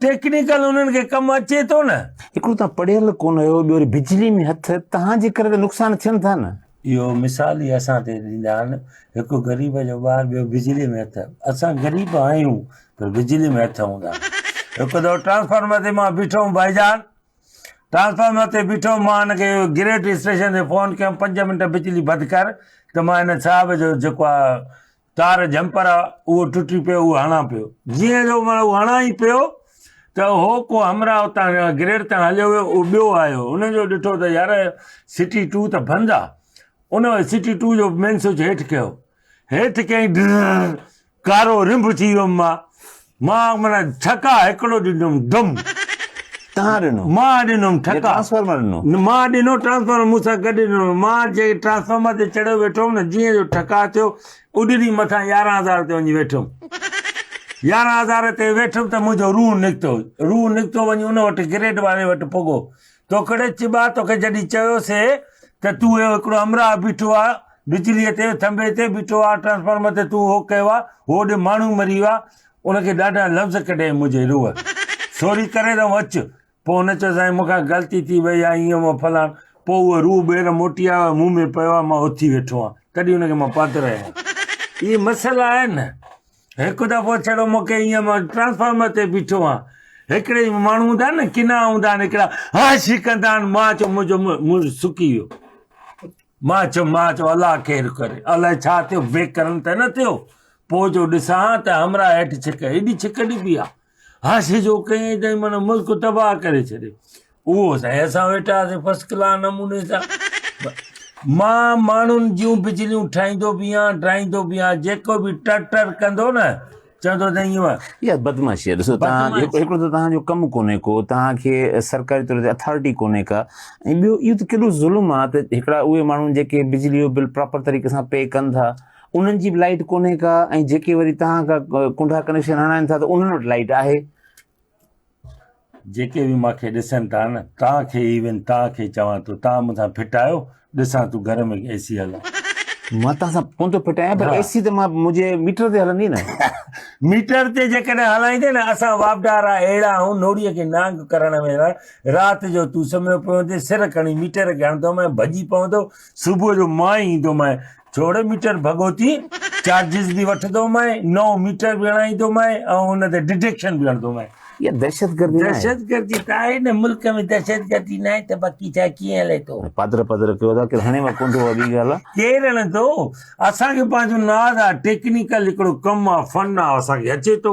Technical انهن کي ڪم اچي ٿو نه. هڪڙو توهان پڙهيل ڪونه آهيو ٻيو وري بجلي ۾ هٿ توهان جي ڪري ته نقصان ٿين ٿا نه. اهو مثال ئي اسان تي ڏيندا آهن هڪ غريب جو ٻار ٻيو بجلي ۾ هٿ اسان غريب آهيون پر بجلي ۾ هٿ هوندا آهن. هڪ دفعو ٽرانسفارمر تي مان بيٺو هوم ڀائي جان ٽرانسفارمر تي بيٺو هوم مان هن کي گريڊ اسٽيشن تي فون ڪيم پنج منٽ بجلي بند ڪر ته مان هن صاحب جو جيڪو آ تار جهمپر آ، اهو ٽٽي پيو، اهو هڻان پيو. جيئن جو معنيٰ اهو هڻان ئي پيو ته هو ڪو همراهه اتان گريڊ تان هليو ويو، اهو ٻيو آيو، هن جو ڏٺو ته يار سٽي ٽو ته بند آ، ان سٽي ٽو جو مين سوئچ هيٺ ڪيو، هيٺ ڪيائين ڊرررر، ڪارو رنڀ ٿي ويم مان. مان معنيٰ ٺڪا هڪڙو ڏنم ڊم. تان ڏنو. مان ڏنم ٺڪا. ٽرانسفارمر ڏنو. نه مان ڏنو ٽرانسفارمر مون سان گڏ ڏنو مان جنهن ٽرانسفارمر تي چڙهيو ويٺو هوم نه جيئن جو ٺڪا ٿيو اڏري مٿان يارهن هزار تي وڃي ويٺو هوم يارهن هزار تي ويٺم ته منهنجو روح نڪتو روح نڪتو وڃي ان وٽ گريڊ واري وٽ پڳو توکڙي چٻا توکي جڏهن چيو سي ته تون اهو هڪڙو امراهه بيٺو آ بجلي تي ٿنڀي تي بيٺو آ ٽرانسفارمر تي تون هو ڪيو آ هوڏي ماڻهو مري ويو آ ان کي ڏاڍا لفظ ڪڍيائين منهنجي روح سوري ڪري ته اچ پوء هن چيو سائين مون کان غلطي ٿي وئي آ ايئن هو فلان پوء اهو روح ٻيهر موٽي آيو مون ۾ پيو آ مان اٿي ويٺو آ تڏهن ان کي مان پادرايو اهي مسئلا آهن نه هڪ دفعو ڇڙو مونکي ايئن مان ٽرانسفارمر تي بيٺو آهيان هڪڙي ماڻهو هوندا آهن نه ڪنا هوندا آهن هڪڙا هاش هي ڪندا آهن مان چيو منهنجو منهن سڪي ويو مان چيو مان چيو الله خير ڪري الائي ڇا ٿيو بي ڪرن ته نه ٿيو پوء جو ڏسان ته همراهه هيٺ ڇڪ ايڏي ڇڪ ڏبي آهي حاشي جو ڪيئي تائين من ملڪ تباهه ڪري ڇڏي اهو سائين اسان ويٺاسي فرسٽ ڪلاس نموني سان مان ماڻهن جون بجليون ٺاهيندو به آهيان ڊاهيندو به آهيان جيڪو به ٽر ٽر ڪندو نه چوندو ته ايئن يار بدمعاشي ڏسو تهان هڪڙو ته تهان جو ڪم ڪونهي ڪو تهان کي سرڪاري طور تي اٿارٽي ڪونهي ڪا ۽ ٻيو اهو ته ڪيڏو ظلم آ ته هڪڙا اهي ماڻهو جيڪي بجلي جو بل پراپر طريقي سان پي ڪن ٿا انهن جي به لائيٽ ڪونهي ڪا ۽ جيڪي وري توهان ڪا ڪنڊا ڪنيڪشن هڻائين ٿا ته انهن وٽ لائيٽ آهي. جيڪي به مان کي ڏسن ٿا نه توهان کي ئي وين توهان کي چوان ٿو توهان مون سان ڦٽ آهيو ڏسان ٿو گهر ۾ اي سي هلان. مان توهان سان ڪونه ٿو ڦٽ آهيان پر اي سي ته مان منهنجي ميٽر تي هلندي نه. ميٽر تي جيڪڏهن هلائيندي نه اسان واپڊارا اهڙا آهون نوڙي کي نانگ ڪرڻ ويهڻا رات جو تون سمهيو پيو هوندي سر کڻي ميٽر کي هڻندومانء ڀڄي پوندو صبح جو مان ئي ايندومانء جوڙي ميٽر ڀڳوتي چارجز به وٺندومانء، نئون ميٽر به هڻائيندومانء ۽ ان تي ڊڊيڪشن به هڻندومانء. اها دهشتگردي ناهي. دهشتگردي ته آهي نه، ملڪ ۾ دهشتگردي ناهي ته باقي ڇا ڪيئن هلي ٿو. پادر پادر ڪيو ٿا، ڪير هڻي مان ڪونٿو اها ٻي ڳالهه آهي. ڪير هڻندو، اسان کي پنهنجو ناز آهي، ٽيڪنيڪل هڪڙو ڪم آهي، فن آهي، اسان کي اچي ٿو،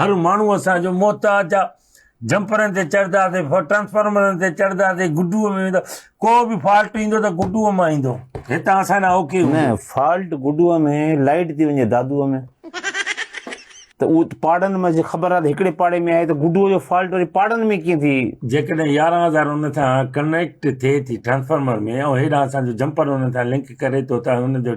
هر ماڻهو اسان جو محتاج آهي. جمپرن تي چڙهنداسين ٽرانسفارمرن تي چڙهنداسين گڊوء ۾ ويندا ڪو به فالٽ ايندو ته گڊوء مان ايندو هتان اسان ڏانهن اوڪي هوندو نه فالٽ گڊوء ۾ لائٽ ٿي وڃي دادوء ۾ ته اهو پاڙن ۾ خبر آهي ته هڪڙي پاڙي ۾ آهي ته گڊوء جو فالٽ وري پاڙن ۾ ڪيئن ٿي جيڪڏهن يارهن هزار ان سان ڪنيڪٽ ٿئي ٿي ٽرانسفارمر ۾ ۽ هيڏانهن اسان جو جمپر ان سان لنڪ ڪري ٿو ته ان جو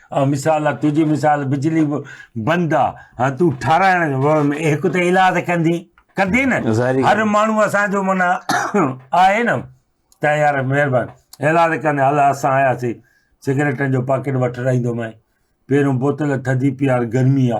آء مثال آ تنهنجي مثال بجلي به بند آ ها تون ٺاراهڻ هڪ ته علاج ته ڪندي ڪندي نه هر ماڻهو اسان جو منا آهي نه ته يار مهربان علاج ڪندي هل اسان آياسي سگريٽن جو پاڪيٽ وٺ رهندومانء پهريون بوتل ٿڌي پيار گرمي آ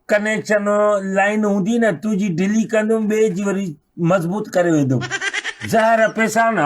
ڪنيڪشن لائين هوندي نه تنهنجي ڍلي ڪندم ٻئي جي وري مضبوط ڪري ويندم زهر پيسان.